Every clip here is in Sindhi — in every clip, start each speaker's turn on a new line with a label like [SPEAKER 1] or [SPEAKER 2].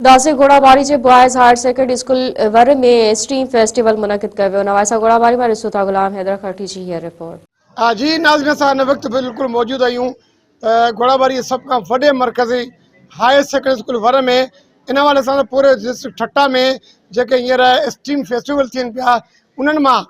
[SPEAKER 1] گاسي گهوڙاٻاري جي بوائز هائر سيڪنڊري اسڪول ور ۾ اسٽيم فيسٽيول منعقد ڪيو ويو نواسا گهوڙاٻاري مان ڏسو ٿا غلام حيدر خرٽي جي هيء رپورٽ. جي ناظرين
[SPEAKER 2] اسان هن وقت بلڪل موجود آهيون گهوڙاٻاري جي سڀ کان وڏي مرڪزي هائر سيڪنڊري اسڪول ور ۾ ان حوالي سان پوري ڊسٽرڪٽ ٺٽا ۾ جيڪي هينئر اسٽيم فيسٽيول ٿين پيا انهن مان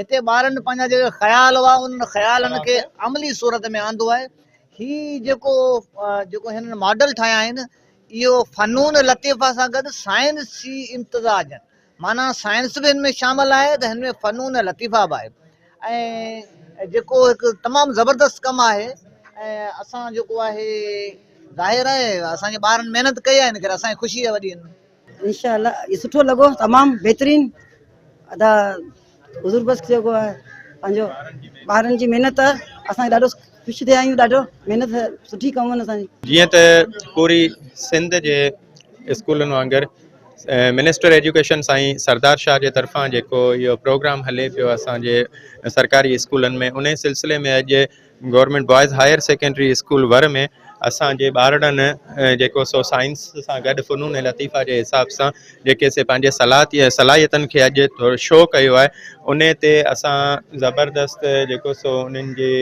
[SPEAKER 3] هتي ٻارن پنهنجا جيڪي خيال هئا انهن خيالن کي عملي صورت ۾ آندو آهي هي جيڪو جيڪو هنن ماڊل ٺاهيا آهن اهو فنون لطيفه سان گڏ سائنسي امتزاج آهن معنيٰ سائنس به هن ۾ شامل آهي ته هن ۾ فنون لطيفه به آهي ۽ جيڪو هڪ تمام زبردست ڪم آهي ۽ اسان جيڪو آهي ظاهر آهي اسان جي ٻارن محنت ڪئي آهي ان ڪري اسان جي خوشي آهي وڏي انشاء الله
[SPEAKER 4] سٺو لڳو تمام بهترين ادا حضور بخش جيڪو آهي پنهنجو ٻارن جي محنت اسان ڏاڍو خوش ٿيا آهيون ڏاڍو محنت سٺي ڪم آهن اسان جي جيئن ته
[SPEAKER 5] پوري سنڌ جي اسڪولن وانگر منسٽر ايجوڪيشن سائين سردار شاهه جي طرفان جيڪو اهو پروگرام هلي پيو اسان جي سرڪاري اسڪولن ۾ ان سلسلي ۾ اڄ government boys higher secondary school ور ۾ اسان جي ٻارڙن جيڪو سو سائنس سان گڏ فنون ۽ لطيفا جي حساب سان جيڪي سي پنهنجي صلاحت صلاحيتن کي اڄ شو ڪيو آهي ان تي اسان زبردست جيڪو سو انهن جي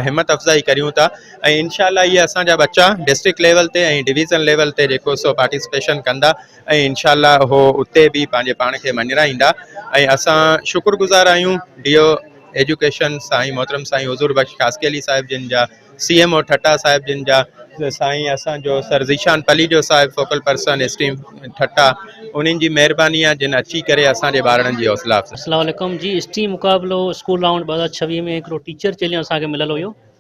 [SPEAKER 5] همت افزائي ڪريون ٿا ۽ انشاء الله اهي اسان جا ٻچا ڊسٽرڪٽ ليول تي ۽ ڊويزن ليول تي جيڪو سو پارٽيسپيشن ڪندا ۽ انشاء الله هو اتي به پنهنجي پاڻ کي مڃرائيندا ۽ اسان شڪر گذار آهيون ڊي او ايجوڪيشن سائين محترم سائين حضور بخش خاصخيلي علي صاحب جن جا سي ايم او ٺٽا صاحب جن جا سائين اسان جو سر ذيشان پليجو صاحب فوڪل پرسن اسٽيم ٺٽا انهن جي مهرباني آ جن اچي ڪري اسان جي ٻارڙن جي حوصلا افزائي اسلام عليڪم جي اسٽيم
[SPEAKER 6] مقابلو اسڪول رائونڊ ٻه هزار ڇويهه ۾ هڪڙو ٽيچر چيلنج اسان کي مليل هيو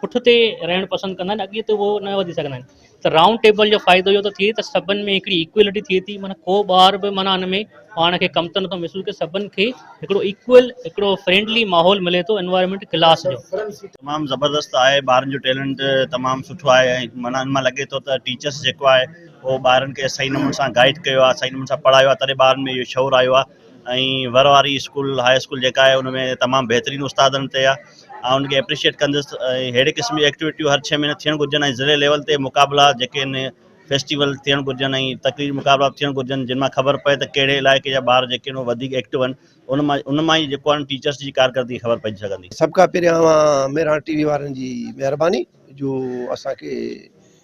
[SPEAKER 6] پٺ تي رهڻ پسند ڪندا آهن اڳيئي تي هو نه وڌي سگهندا آهن ته رائونڊ ٽيبل جو فائدو اهو ٿو ٿئي ته سڀن ۾ هڪڙي ايڪوئلٽي ٿئي ٿي معنيٰ ڪو ٻار به معنيٰ ان ۾ پاڻ کي ڪم ته نٿو محسوس ڪري سڀن کي هڪڙو ايڪوئل هڪڙو فرينڊلي ماحول ملي ٿو انوائرمينٽ ڪلاس جو. تمام زبردست
[SPEAKER 7] آهي ٻارن جو ٽيلنٽ تمام سٺو آهي ۽ معنيٰ ان مان لڳي ٿو ته ٽيچرس جيڪو آهي هو ٻارن کي صحيح نموني سان گائيڊ ڪيو آهي صحيح نموني سان پڙهايو آهي تڏهن ٻارن ۾ اهو شعور آيو آهي ۽ ور واري اسڪول هاء اسڪول جيڪا آهي ان ۾ تمام بهترين استادن تي آهي آئون ان کي اپريشيئيٽ ڪندس ۽ ههڙي قسم جي ايڪٽيوٽيون هر ڇهه مهيني ٿيڻ گهرجن ۽ ضلعي ليول تي مقابلا جيڪي ان فيسٽيول ٿيڻ گهرجن ۽ تقرير مقابلا به ٿيڻ گهرجن جن مان خبر پئي ته ڪهڙي علائقي جا ٻار جيڪي ان وڌيڪ ايڪٽو آهن ان مان ان مان ئي جيڪو آهن ٽيچرس جي ڪارڪردگي خبر پئجي سگهندي. سڀ کان پهريان
[SPEAKER 8] مهراڻ ٽي وي وارن جي مهرباني جو اسان کي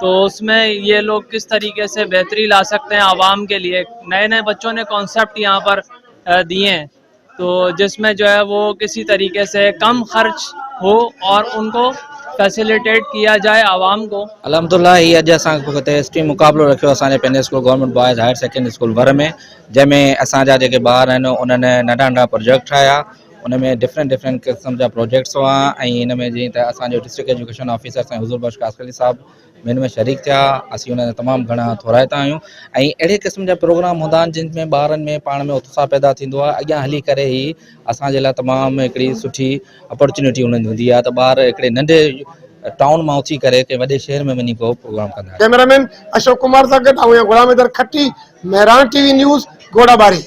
[SPEAKER 9] تو اس مين يي لوگ ڪس طريقي سي بهتري لا سڪتي هين عوام ڪي ليي نئي نئي بچو ني ڪونسپٽ يهان پر ديي هين تو جس مين جو هي وو ڪسي طريقي سي ڪم خرچ هو اور انڪو فيسليٽيٽ ڪيا جائي عوام ڪو الحمد الله هي اڄ اسان
[SPEAKER 10] هتي هسٽري مقابلو رکيو اسان جي پنهنجي school government boys higher secondary school ور ۾ جنهن ۾ اسان جا جيڪي ٻار آهن انهن ننڍا ننڍا پروجيڪٽ ٺاهيا ان ۾ ڊفرنٽ ڊفرنٽ قسم جا پروجيڪٽس هئا ۽ ان ۾ جيئن ته اسان جو ڊسٽرڪٽ ايجوڪيشن آفيسر سائين حضور بخش قاسقلي صاحب به ان ۾ شريڪ ٿيا اسين انهن جا تمام گهڻا ٿورائتا آهيون ۽ اهڙي قسم جا پروگرام هوندا آهن جن ۾ ٻارن ۾ پاڻ ۾ اتساهه پيدا ٿيندو آهي اڳيان هلي ڪري هي اسان جي لاء تمام هڪڙي سٺي اپرچونيٽي انهن جي هوندي آهي ته ٻار هڪڙي ننڍي ٽائون مان اٿي ڪري ڪنهن وڏي شهر ۾ وڃي ڪو پروگرام ڪندا آهن. ڪيمرامين اشوڪ
[SPEAKER 2] ڪمار سان گڏ آئون آهيان غلام Haider Khatti, Mehran T V news, Ghora ٻاري.